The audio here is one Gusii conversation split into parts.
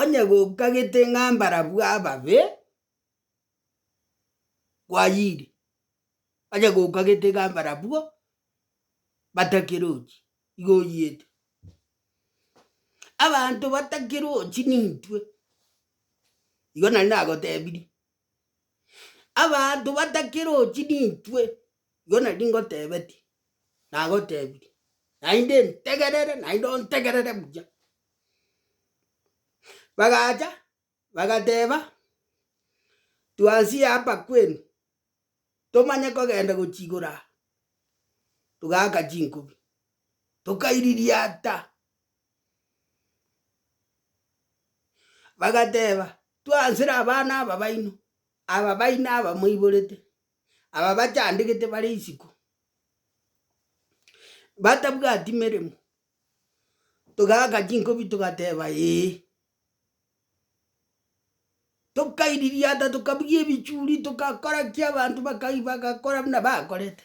Onye gokagete ng'a mbarabwo ababe, kwayire, onye gokagete ng'a mbarabwo batakerochi, igo oyete. Abanto batakerochi nintwe, igo nari nagotebirie. Abanto batakerochi nintwe, igo nari ngotebetie, nagotebirie, naende ntegerere naende ontegerere buya. Bagacha bagateba, twansie hapa kwenu, tomanye kogenda gochi igoro aa, togaaka chinkubi, tokairi riata. Bagateba, Twansire abana aba baino, aba baino abamoiborete, aba bachandegete bare isiko, batabwati meremo, togaaka chinkobi togateba, Ee. Tokairiria ata tokabugia ebichuri, togakora ki abanto bakai bagakora buna bakorete.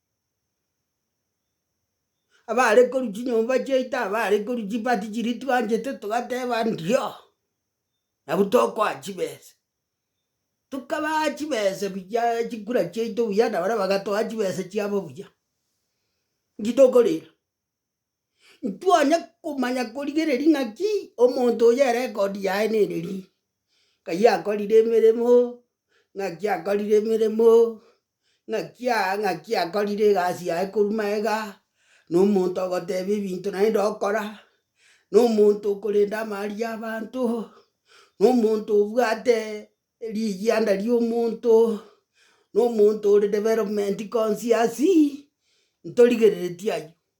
abare korwa chinyomba chiaito abare korwa chibati chiria twanchete togateba ndio, nabu tokoa chibesa. Tokabaa chibesa buyaaa chikura chiaito buya na baria bagatoa chibesa chiabo buya, nji tokorera. Ntwanye komanya korigereria ng'aki omonto oyo erekodi yaye nere ri, ng'ai akorire emeremo, ng'aki akorire emeremo, ng'aki aa ng'aki akorire egasi yaye korwa magega, na omonto ogoteba ebinto naende okora, na omonto okorenda amaari ya abanto, na omonto obwate rigianda ria omonto, na omonto ore development conscious, ntorigereretie aywo.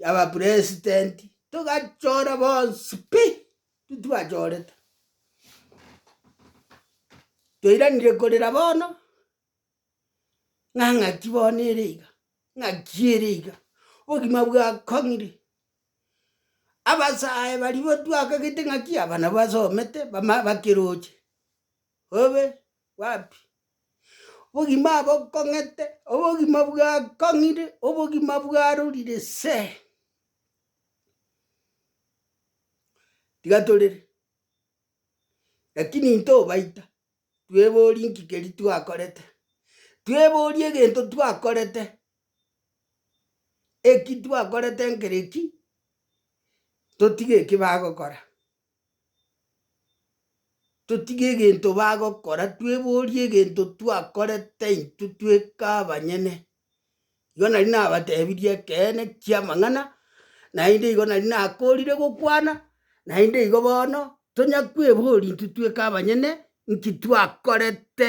y'abapresidenti, togachora bonsi pi, titwachorete. Toiranire korera bono, ng'a ng'aki bono ere iga, ng'aki ere iga, obogima bwakong'ire. Abasae barigwe twakagete ng'aki aba nabo basomete bama bakeroche, obe wapi. Obogima abokong'ete, obogima bwakong'ire, obogima bwarorire see. Tiga torere, lakini ntobaita, twebori nki keri twakorete, twebori egento twakorete, eki twakorete nkere ki, totige eki bagokora. Totige egento bagokora, tweborie egento twakorete intwe tweka abanyene. Igo nari nabatebirie ekeene ki'amang'ana, naende igo nari nakoorire gokwana, naende igo bono tonya kweboria intwe tweka abanyene, inki twakorete.